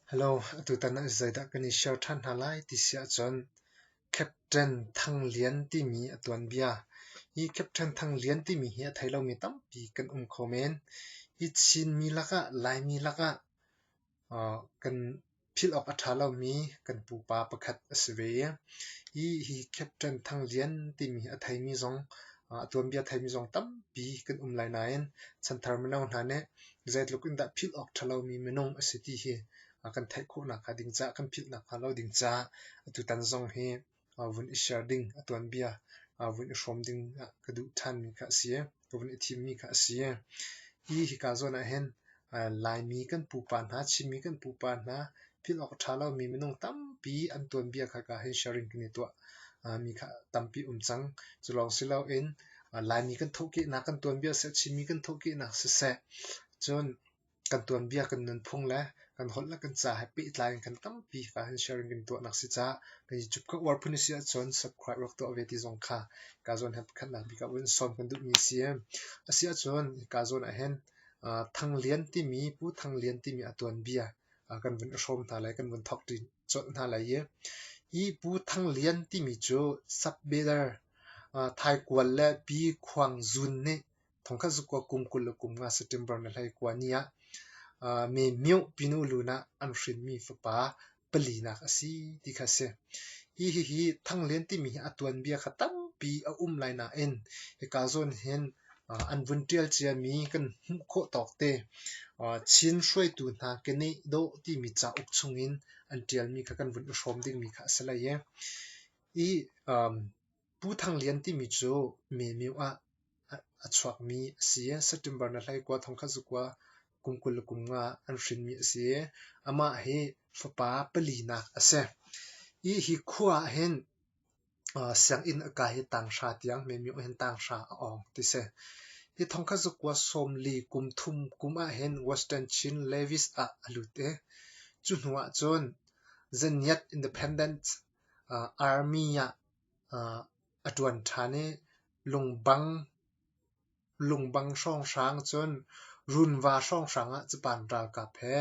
Hello, atutan ah zeidah kan i share ṭhan hna lai ti si ahcun Captain Thang Lian timi a tuanbia. Hi Captain Thang Lian timi hi a thei lomi tampi kan um kho men. Hi Chinmi lakah, Laimi lakah kan philh awk a ṭha lomi kan pupa pakhat a si ve i hi Captain Thang Lian timi a theimi zong, a tuanbia theimi zong tampi kan um lai nain chanthar mino hna nih zeitluk in dah philh awk ṭhalomi minung a si ti hi kan theih khawhnak hnga ding caah, kan philh nakhnga lo ding caah atutan zong hi vun i share ding, a tuanbia vun i hrawm ding ka duh ṭhanmi kha a si. Ka vun i thimmi kha a si. Hi hika zawn ahhin Laimi kan pupa hna, Chinmi kan pupa hna thil awk a ṭha lomi minung tampi an tuanbia kha ka hei sharing kan i tuah. Uh, mi kha tampi um cang. Culawng si loin uh, Laimi kan thawhkehnak, kan tuanbia seh, Chinmi kan thawhkehnak siseh, cun kan tuanbia kan nunphung le kan holh le kan ca he pehtlai in kan tampi ka han sharing kan tuah nak si ca kan i cup ka uar phun si ahcun subscribe rak tuah ve ti zong kha ka zawn he khat nak bik in sawm kan duh mi si a si ahcun ka zawn ah hin uh, Thang Lian timi Pu Thang Lian timi a tuanbia kan vun hrawm hna lai, kan vun thawk colh hna lai i hi Pu Thang Lian timi cu sub-Bidder Thaikual le Pi Khuang Zun nih thongkhat zukua kum kul le kum nga September na hlei kua ni ah me Myo pinu lu nah an hrinmi fapa palinak a si ti kha si. Hi hi hi Thang Lian timi hi a tuanbia kha tampi a um lai nain hika zawn hin an vun ṭial ciami kan hmuh khawh tawk te Chin hruaitu hna keneh dawh timi cauk chungin an ṭialmi kha kan vun i hrawm dingmi kha a si lai i i Pu Thang Lian timi cu Memeu ah a chuakmi a si i September ni hlaikua thongkhat zukua kum kul le kum nga an hrinmi a si i amah hi fapa palinak a si. Hi khua ah hin sianginn a kai hi tanghra tiang meimih hin tanghra a awng ti si. Hi thong kha zakua sawmli kum thum kum ahhin Western Chin Levis ah a lut i cu hnu ahcun Zaniat Independence Army ah a ṭuan ṭhan i Lungbang Lungbang hrawnghrang cun runva hrawnghrang ah capan ralkap he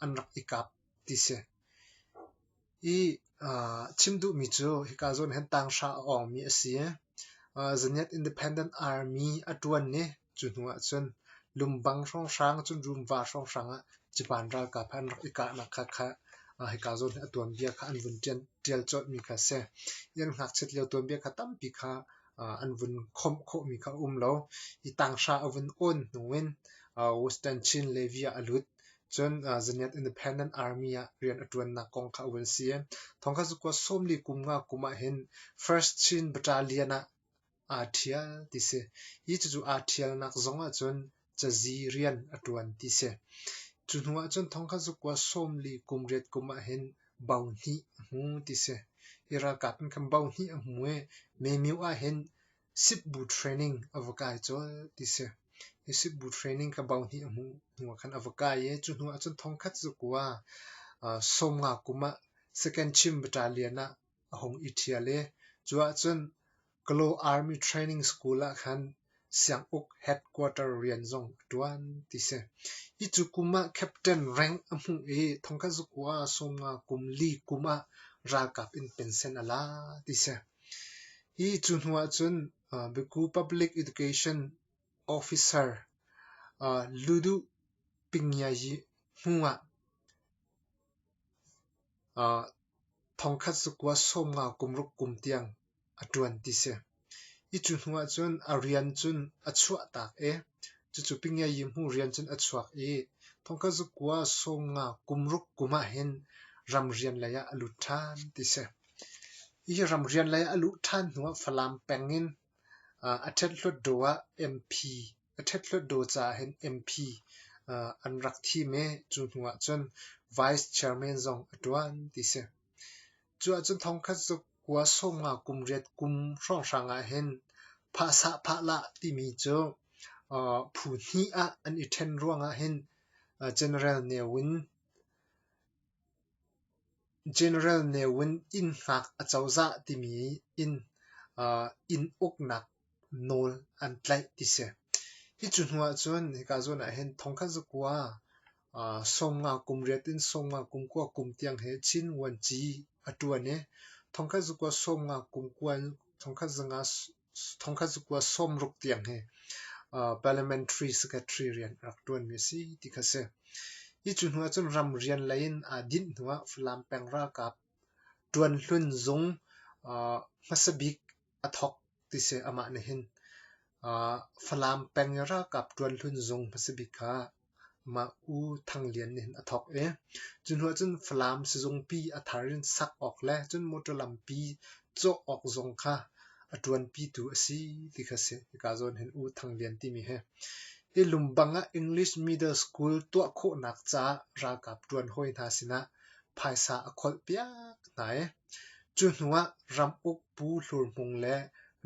an rak i kap ti si. I chim duhmi cu hika zawn hin tanghra a awngmi a si. Zaniat Independent Army a ṭuan i cu hnu ahcun Lungbang hrawnghrang cun runva hrawnghrang ah capan ralkap he an rak i kahnak kha hika zawn hi a tuanbia kha an vun ṭial colhmi kha a si. I an ngakchiat lio tuanbia kha tampi kha an vun khawmh khawhmi kha a um lo. Hi tanghra a vun awn hnu in Western Chin Levy ah a lut. Cun Zaniat Independent Army ah rian a ṭuannak kong kha a vun si. Thawngkha cu kuah sawmli kum nga kum ahhin First Chin Battalion ah aa ṭhial ti si. Hi cucu aa ṭhialnak zong ahcun cazi rian a ṭuan ti si. Cu hnu ahcun thongkhat zukua sawm li kum riat kum ahhin bao hnih a hmu ti si. Hi ralkap nih khan bao hnih a hmu i Mymyo ahhin Sipbu training a va kai colh ti si. Hi Sipbu training kha bao hnih a hmu hnu ah khan a va kai i cu hnu ahcun thongkhat zukua uh, sawmnga kum ah second Chin Battalion ah a hung i ṭhial i cu ahcun Kalaw Army Training School ah khan sianguk headquarter rian zong a ṭuan ti si. Hi cu kum ah captain rank a hmuh i thongkhat zuk u ah sawm nga kum li kum ah ralkap in pensen a la ti si. Hi cu hnu ah cun uh, Baku Public Education Officer uh, Ludu Pingyayi hnu ah uh, thongkhat zuk u ah sawm nga kum ruk kum tiang a ṭuan ti si. I cu hnu ahcun a rian cun a chuahtak i cucu pingiayi hmu rian cun a chuak i thongkazukua sawnga kum ruk kum ahhin ramrian lei ah a lut ṭhan ti si. Hi ramrian lei ah a luh ṭhan hnu ah Falam peng in uh, a ṭhet hlutdaw ah MP a ṭhet hlutdaw caah hin MP uh, an rak thim i cu hnu ahcun Vice Chairman zong a ṭuan ti si. Cu ahcun thongkhat cu kua sawmnga kum riat kum hrawnghrang ah hin phahsah phahlah timi cu phu hnih ah an i ṭhen ruangah hin general neu in general neu in inn ngak a cozah timi in inn uknak nawl an tlaih ti si. Hi cu hnu ahcun hika zawn ah hin thongkhat zakua aa sawmnga kum riat in sawmnga kum kua kum tiang hi Chin vuanci a ṭuan i thongkhat zakua sawmnga kum kua thongkhat zanga thongkhat zakua sawmruk tiang hi aa parliamentary secretary rian a rak ṭuanmi a si ti kha si. Hi cu hnu ahcun ram rian lei in aa dinh hnu ah Falam peng ralkap ṭuan hlun zung aa hmasa bik a thawk ti si. Amah nih hin aa Falam peng i ralkap ṭuan hlun zung hmasa bik kha mah U Thang Lian nih hin a thawk i cu hnu ahcun Falam sizungpi a thar in sak awk le cun motor lampi cawh awk zung kha a ṭuanpitu a si ti kha a si. Hika zawn hin U Thang Lian timi hi hi lungbank ah English Middle School tuah khawhnak caah ralkap ṭuan hawi hna sinah phaisa a kholh piak hna i Cu hnu ah ramuk pu hlurhmung le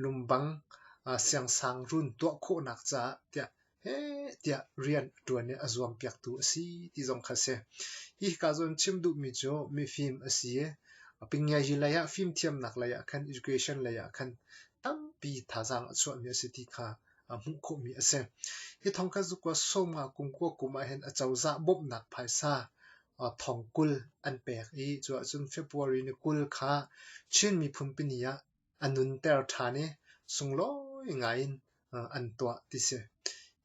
lumbang siangsang run tuah khawhnak caah tiah heh tiah rian a ṭuan i a zuampiaktu a si ti zong kha a si. Hi hika zawn chim duhmi cu mifim a si i a pingiazi lei ah fimthiamnak lei ah khan education lei ah khan tampi thazaang a chuahmi a si ti kha hmuh khawhmi a si. Hi thawng kha zukua sawm nga kum kua kum ah hin a cozah bawmhnak phaisa thongkul an pek i cu ahcun February ni kul kha Chin miphun pini ah a nunter ṭhan i sunglawi ngaiin an tuah ti si.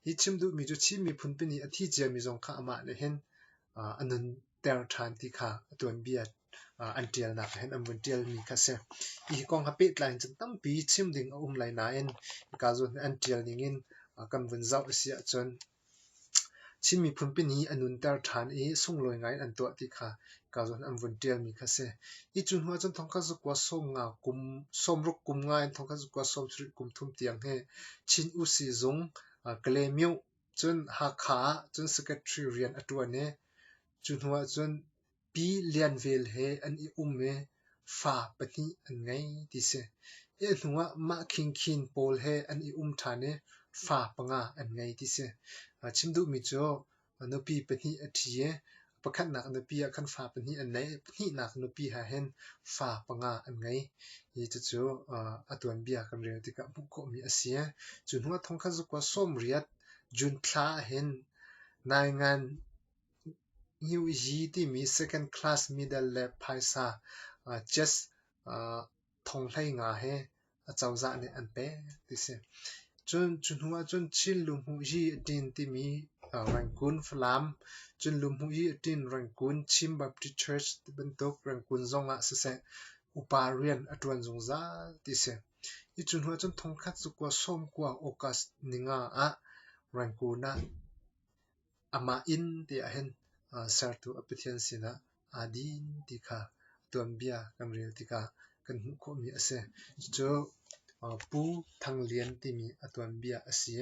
Hi chim duhmi cu Chin miphun pini a thi ciami zong kha amah nih hin a nunter ṭhan ti kha a tuanbia an ṭialnak ah hin an vun ṭialmi kha a si. Hi kong ha pehtlai in cun tampi chim ding a um lai nain hika zawn hi an ṭial ning in kan vun zoh a si ahcun Chin miphun pin i a nunter ṭhan i sunglawi ngaiin an tuah ti kha ka zawn an vun ṭialmi kha a si. Hi cu hnu ahcun Thawngṭha Zakua sawmruk kum nga in Thawngṭha Zakua sawm sarih kum thum tiang hi Chin U Sizung Kalaymyo cun Hakha ah cun secretary rian a ṭuan i cu hnu ahcun Pi Lian Vel he an i um i fa pahnih an ngei ti si. Hi hnu ah mah Khing Khin pawl he an i um ṭhan i fa panga an ngei ti si. Chim duhmi cu nupi pahnih a ṭhi i pakhatnak nupi ah khan fa pahnih an nei i pahnihnak nupi ha hin fa panga an ngei. Hi cucu a tuanbia kan rel tikah hmuh khawhmi a si. Cu hnu ah thong khat zukua sawmriat June thla ah hin Naingan New Yi timi second class medal le phaisa jazz thonghlei nga he acozah nih an pek ti si. Cun cu hnu ahcun Chin Luhmuh Yi Tin timi Rangoon Falam, cun Luhmuh Yi Tin Rangoon Chin Baptist Church tibantuk Rangoon zong ah siseh upa rian a ṭuan zungzal ti si. Hi cu hnu ahcun thongkhat cu kua sawm kua August ninga ah Rangoon ah Amah inn ti ahhin Sertu a Pathian sinah aa din ti kha tuanbia kan rel tikah kan hmuh khawhmi a si. Cucu Pu Thang Lian timi a tuanbia a si.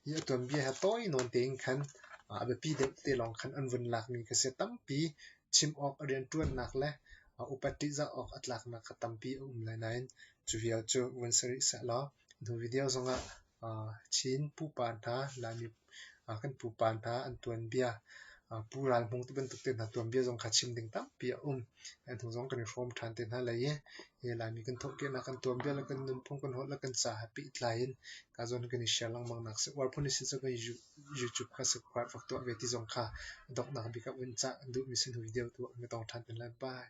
Hi a tuanbia hi tawi nawn tein khan a biapi deuh te lawng khan an vun lakmi ka si. Tampi chim awk a rianṭuannak le upat ṭihzah awk a tlaknak kha tampi a um lai nain cu vial cu vun sa rih sehlaw. Nu video zongah Chin pupa hna, Laimi kan pupa hna an tuanbia, Pu Ral Hmung tibantuk te hna tuanbia zong kha chim ding tampi a um. Nu zong kan i hrawm ṭhan te hna lai i Laimi kan thawhpiahnak, kan tuanbia le kan nunphung, kan holh le kan ca ha pehtlai in ka zawn kan i share lengmang nak si. Uar phun i si cu kan YouTube kha subscribe fak tuah ve ti zong kha donghnak bik ah vun cah. Duhmi si nu video tu an tong ṭhan te lai. Bye.